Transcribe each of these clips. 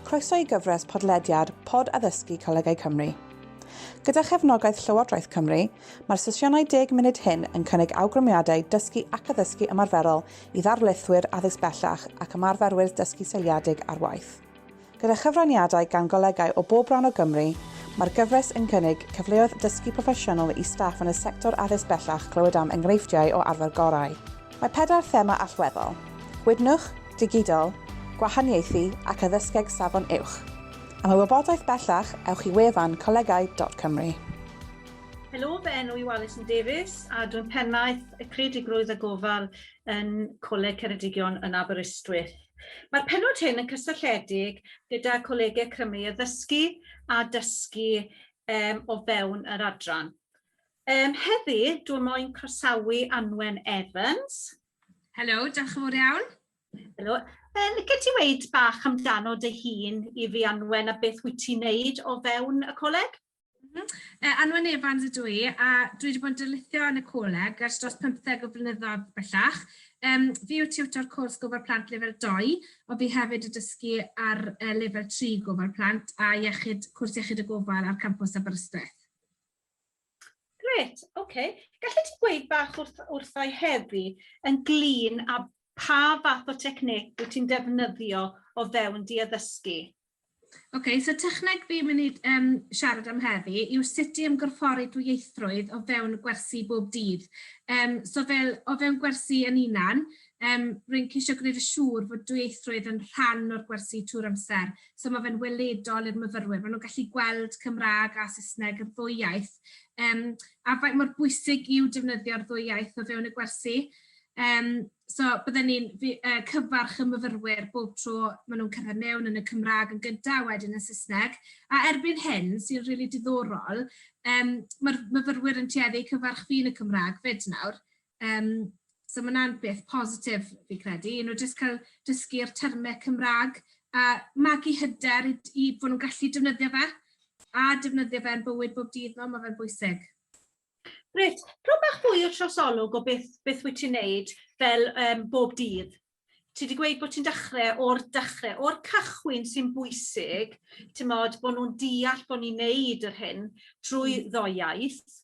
Croeso i gyfres podlediad Pod Addysgu Colegau Cymru. Gyda chefnogaeth Llywodraeth Cymru, mae'r sesiynau deg munud hyn yn cynnig awgrymiadau dysgu ac addysgu ymarferol i ddarlithwyr addysg bellach ac ymarferwyr dysgu seiliedig ar waith. Gyda chyfraniadau gan golegau o bob rhan o Gymru, mae'r gyfres yn cynnig cyfleoedd dysgu proffesiynol i staff yn y sector addysg bellach clywed am enghreifftiau o arfer gorau. Mae pedair thema allweddol, Gwydnwch, Digidol, Gwahaniaethu ac Addysgeg Safon Uwch. Am y wybodaeth bellach, ewch i wefan colegau.cymru. Helo, fy enw yw Alison Davies a dwi'n Pennaeth y Creadigrwydd a Gofal yn Coleg Ceredigion yn Aberystwyth. Mae'r pennod hyn yn cysylltiedig gyda Colegau Cymru i Ddysgu a Dysgu um, o fewn yr adran. Um, heddi, dwi'n moyn croesawu Anwen Evans. Helo, diolch yn fawr iawn. Helo. Yn lle ti weid bach amdano dy hun i fi anwen a beth wyt ti'n neud o fewn y coleg? Mhm. E, Anwen Evans ydw i, a dwi wedi bod yn dylithio yn y coleg ers dros 15 o flynyddoedd bellach. Um, fi yw tiwtor cwrs gofal plant lefel 2, ond fi hefyd y dysgu ar uh, lefel 3 gofal plant a iechyd, cwrs iechyd y gofal ar campus Aberystwyth. Gret, oce. Okay. Gallet ti gweud bach wrth, wrthau heddi yn glin a pa fath o technic wyt ti'n defnyddio o fewn di addysgu? OK, so techneg fi'n mynd i um, siarad am heddi yw sut i ymgorffori dwyieithrwydd o fewn gwersi bob dydd. Um, so fel o fewn gwersi yn unan, um, rwy'n ceisio gwneud y siŵr fod dwyieithrwydd yn rhan o'r gwersi trwy'r amser. So mae fe'n weledol i'r myfyrwyr. Maen nhw'n gallu gweld Cymraeg a Saesneg yr ddwy iaith. Um, a faint mor bwysig yw defnyddio'r ddwy iaith o fewn y gwersi. Um, So bydden ni'n fi- yy cyfarch y myfyrwyr bob tro ma' nhw'n cyrraedd mewn yn y Cymraeg yn gynta' a wedyn yn Saesneg, a erbyn hyn, sy'n rili diddorol, yym ma'r myfyrwyr yn tueddu i cyfarch fi yn y Cymraeg 'fyd nawr, yym so ma' 'na'n beth positif fi credu, i nhw jyst cael dysgu'r terme Cymraeg a magu hyder i d- i bo' nhw'n gallu defnyddio fe, a defnyddio fe yn bywyd bob dydd nhw, ma' fe'n bwysig. Gret. Rho bach fwy o trosolwg o beth, beth wyt ti'n neud fel um, bob dydd. Ti wedi gweud bod ti'n dechrau o'r dechrau, o'r cychwyn sy'n bwysig, ti'n modd bod nhw'n deall bod ni'n neud yr hyn trwy hmm. ddoiaeth.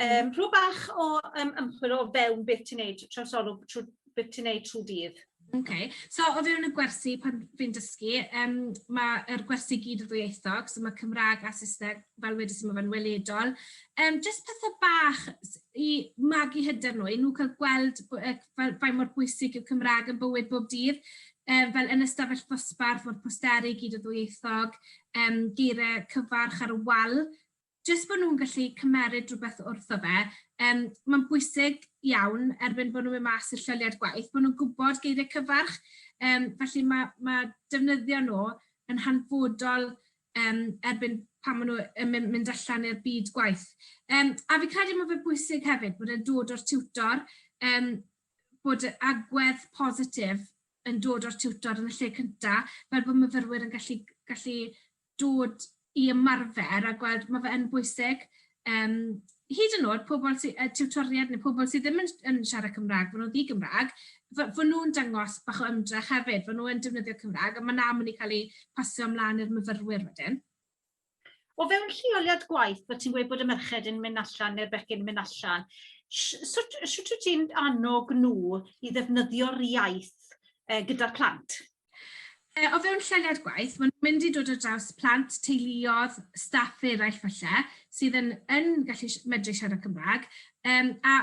Um, rho bach o um, ymchwil o fewn beth ti'n neud trosolwg trwy beth ti'n neud trwy dydd. Ok, so o fewn y gwersi pan fi'n dysgu, yym mae'r gwersi i gyd yn ddwyieithog, so mae Cymraeg a Saesneg, fel wedes i, mae fe'n weledol. Yym jyst pethe bach s- i magu hyder nhw, i nhw cael gweld b- yy fel faint mor bwysig yw Cymraeg yn bywyd bob dydd, yym fel yn y stafell ddosbarth, mae'r posteri i gyd yn ddwyieithog, yym geiriau cyfarch ar y wal. jyst bod nhw'n gallu cymeryd rhywbeth wrtho fe, um, mae'n bwysig iawn erbyn bod nhw'n mynd mas i'r lleoliad gwaith, bod nhw'n gwybod geiriau cyfarch, um, felly mae, mae defnyddio nhw yn hanfodol um, erbyn pan maen nhw'n mynd, mynd allan i'r byd gwaith. Um, a fi credu mae fe bwysig hefyd bod e'n dod o'r tiwtor, um, bod agwedd positif yn dod o'r tiwtor yn y lle cyntaf, fel bod myfyrwyr yn gallu, gallu dod i ymarfer a gweld, mae fe yn bwysig, um, hyd yn oed pobl sy, uh, tiwtoriad neu pobl sydd ddim yn, yn siarad Cymraeg, fod nhw'n ddi-Gymraeg, fod nhw'n dangos bach o ymdrech hefyd, fod nhw'n defnyddio Cymraeg, a mae na mynd i cael ei pasio ymlaen i'r myfyrwyr wedyn. O fewn lleoliad gwaith, bod ti'n gweud bod y merched yn mynd allan neu'r bechgyn yn mynd allan, sut wyt ti'n annog nhw i ddefnyddio'r iaith gyda'r plant? E, o fewn lleoliad gwaith, maen nhw'n mynd i dod ar draws plant, teuluodd, staff eraill falle, sydd yn, yn gallu medru siarad Cymraeg, um, a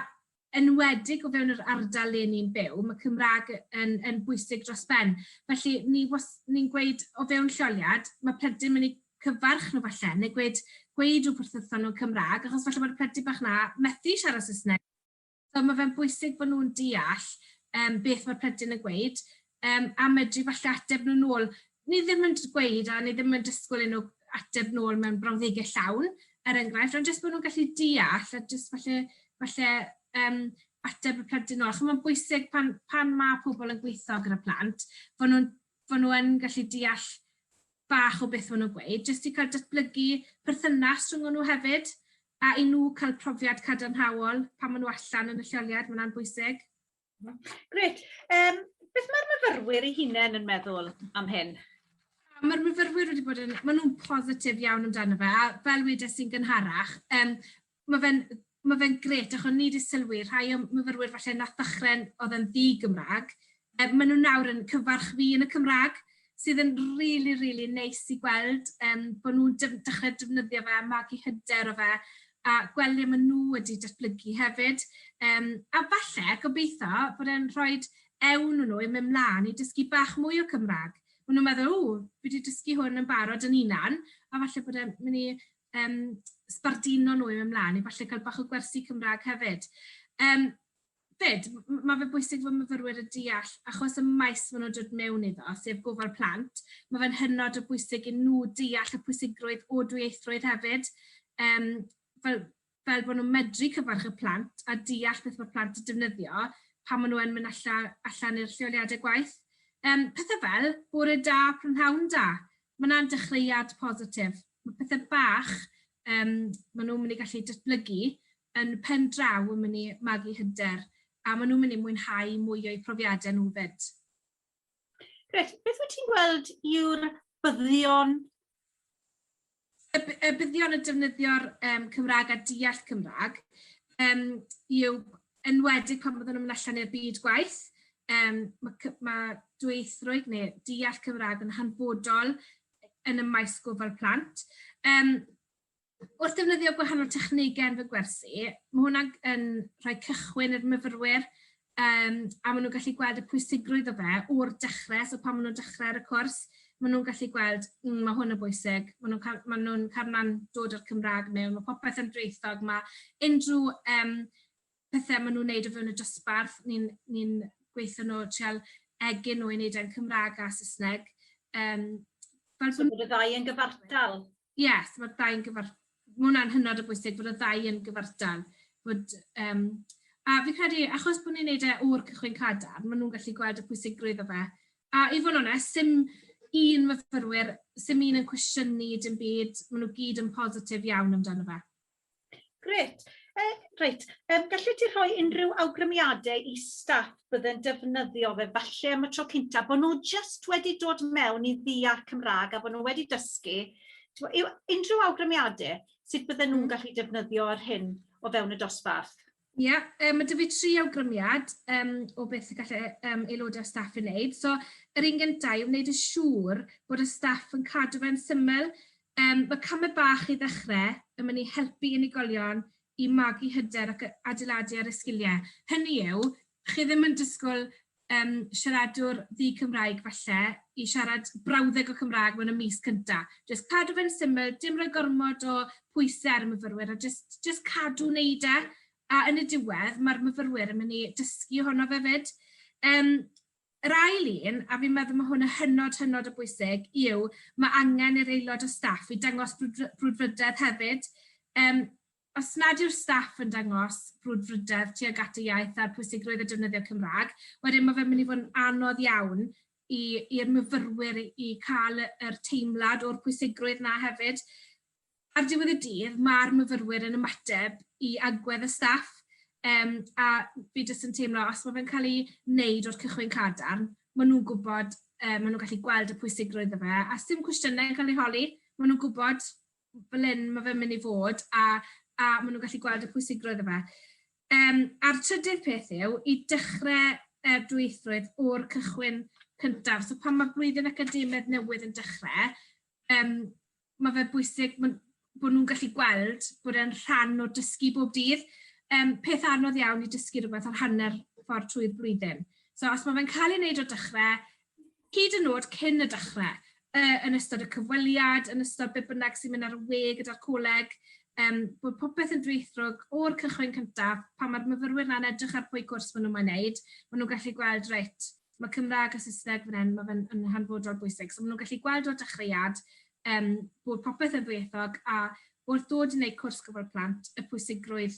enwedig o fewn yr ardal le ni'n byw, mae Cymraeg yn, yn bwysig dros ben. Felly, ni was, ni'n gweud o fewn lleoliad, mae plentyn mynd i cyfarch nhw falle, neu gweud, gweud rhywbeth wrthyn nhw'n Cymraeg, achos falle bod y plentyn bach na methu siarad Saesneg So mae fe'n bwysig bod nhw'n deall yym beth mae'r plentyn yn gweud yym a medru falle ateb nhw'n ôl. Ni ddim yn gweud a ni ddim yn disgwyl i nhw ateb nôl mewn brawddegau llawn, er enghraifft, ond jyst bod nhw'n gallu deall a jyst falle, falle um, ateb y plentyn nôl. Chymod, mae'n bwysig pan, pan mae pobl yn gweithio gyda plant, bod nhw'n fod nhw yn gallu deall bach o beth fod nhw'n gweud, jyst i cael datblygu perthynas rhwng nhw hefyd, a i nhw cael profiad cadarnhaol pan maen nhw allan yn y lleoliad, mae hwnna'n bwysig. Gret. Um, beth mae'r myfyrwyr ei hunain yn meddwl am hyn? mae'r myfyrwyr wedi bod yn, maen nhw'n positif iawn amdano fe, a fel wedes i'n gynharach, um, ma' fe'n ma' fe'n grêt achos o'n i 'di sylwi rhai o'm myfyrwyr falle nath ddechre'n o'dd yn ddi-Gymra'g yy ma' nw nawr yn cyfarch fi yn y Cymra'g sydd yn rili rili neis i gweld yym bo' nw'n def- dechre defnyddio fe a magu hyder o fe a gweld le ma' nw wedi datblygu hefyd yym a falle gobeitho bod e'n rhoid ewn o nw i myn' mlan i dysgu bach mwy o Cymra'g. Ma' nw'n meddwl ww fi 'di dysgu hwn yn barod yn 'unan a falle bod e'n myn' i um, sbarduno nhw i mynd mlaen, i falle cael bach o gwersi Cymraeg hefyd. Um, fyd, mae fe bwysig fod myfyrwyr y deall, achos y maes maen nhw'n dod mewn iddo, sef gofal plant, mae fe'n hynod o bwysig i nhw deall y pwysigrwydd o dwyieithrwydd hefyd. Um, fel, fel bod nhw'n medru cyfarch y plant a deall beth mae'r plant yn defnyddio pan maen nhw yn mynd alla, allan i'r lleoliadau gwaith. Um, pethau fel, bore da, prynhawn da. Mae yna'n dechreuad positif. Mae pethau bach um, maen nhw'n mynd i gallu datblygu yn pen draw yn mynd i magu hyder a maen nhw'n mynd i mwynhau mwy o'u profiadau nhw fyd. Gret, beth wyt ti'n gweld yw'r byddion y, y byddion y defnyddio'r um, Cymraeg a deall Cymraeg um, yw enwedig pan byddwn nhw'n mynd allan i'r byd gwaith. Um, mae, ma dweithrwydd neu deall Cymraeg yn hanfodol yn y maes gofal plant. Um, Wrth ddefnyddio gwahanol technegau ar fy gwersi, mae hwnna yn rhoi cychwyn i'r myfyrwyr um, a maen nhw'n gallu gweld y pwysigrwydd o fe o'r dechrau, so pan maen nhw'n dechrau ar y cwrs, maen nhw'n gallu gweld, mm, mae hwn yn bwysig, maen nhw'n cael, maen nhw'n cael dod o'r Cymraeg mewn, mae popeth yn dreithog, mae unrhyw um, pethau maen nhw'n gwneud o fewn y dosbarth, ni'n ni, gweithio nhw treol egin nhw i wneud e'n Cymraeg a Saesneg. Um, fel so bod y ddau yn gyfartal? yes, mae'r ddau'n gyfartal. Mae hwnna'n hynod o bwysig bod y ddau yn gyfartal. Bod, um, a fi'n credu, achos bod ni'n neud e o'r cychwyn cadar, maen nhw'n gallu gweld y pwysigrwydd o fe. A i fod yn onest, sy'n un myfyrwyr, sy'n un yn cwestiynu dim byd, maen nhw gyd yn positif iawn amdano fe. Grêt. Yy reit, yym gallet ti rhoi unrhyw awgrymiade i staff bydd yn defnyddio fe falle am y tro cynta bo' nhw jyst wedi dod mewn i ddeall Cymrâg a bo' nhw wedi dysgu t'mo' yw unrhyw awgrymiade sut bydden nhw'n gallu defnyddio yr hyn o fewn y dosbarth? Ia, yym ma' 'da fi tri awgrymiad yym o beth y gallai yym aelodau o staff ei wneud. So yr un gynta yw wneud yn siŵr bod y staff yn cadw fe'n syml. Yym ma' camau bach i ddechrau yn mynd i helpu unigolion i magu hyder ac yy adeiladu ar y sgiliau. Hynny yw, chi ddim yn disgwyl yym siaradwr ddu Cymraeg falle i siarad brawddeg o Cymraeg mewn y mis cynta. Jyst cadw fe'n syml, dim rhoi gormod o pwyse ar y myfyrwyr a jyst jyst cadw wneud e a yn y diwedd mae'r myfyrwyr yn mynd i dysgu ohono fe 'fyd. Yym yr ail un, a fi'n meddwl mae hwn yn hynod hynod o bwysig, yw mae angen i'r aelod o staff i dangos brwdfrydedd hefyd. Yym Os nad yw'r staff yn dangos brwdfrydedd tuag at y iaith a'r pwysigrwydd o defnyddio'r Cymraeg, wedyn ma' fe'n mynd i fod yn anodd iawn i i'r myfyrwyr i i ca'l y yr teimlad o'r pwysigrwydd 'na hefyd. Ar diwedd y dydd ma'r myfyrwyr yn ymateb i agwedd y staff yym a fi jyst yn teimlo os ma' fe'n ca'l 'i neud o'r cychwyn cadarn ma' nhw'n gwbod yy ma' nhw'n gallu gweld y pwysigrwydd o fe a sdim cwestiyne yn ca'l eu holi ma' nhw'n gwbod fel hyn mae fe'n mynd i fod a, a maen nhw'n gallu gweld y pwysigrwydd o fe. Um, a'r trydydd peth yw i dechrau uh, dwythrwydd o'r cychwyn cyntaf. So pan mae blwyddyn academaidd newydd yn dechrau, um, mae fe bwysig bod nhw'n gallu gweld bod e'n rhan o dysgu bob dydd. Um, peth anodd iawn i dysgu rhywbeth ar hanner ffordd trwy'r blwyddyn. So os mae fe'n cael ei wneud o dechrau, hyd yn nod cyn y dechrau, yy yn ystod y cyfweliad, yn ystod be bynnag sy'n mynd ar y we gyda'r coleg, um, bod popeth yn dwythrwg o'r cychwyn cyntaf, pan mae'r myfyrwyr na'n edrych ar pwy cwrs maen nhw'n mynd wneud, maen nhw'n gallu gweld, reit, mae Cymraeg a Saesneg fan hyn, mae fe'n yn hanfodol bwysig. So maen nhw'n gallu gweld o'r dechreuad um, bod popeth yn ddwyieithog a wrth ddod i wneud cwrs gofal plant, y pwysigrwydd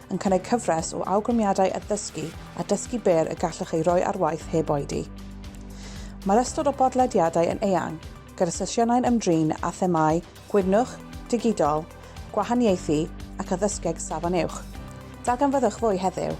yn cynnig cyfres o awgrymiadau addysgu a dysgu byr y gallwch ei roi ar waith heb oedi. Mae'r ystod o bodlediadau yn eang, gyda sesiynau'n ymdrin â themâu gwydnwch, digidol, gwahaniaethu ac addysgeg safon uwch. Darganfyddwch fwy heddiw!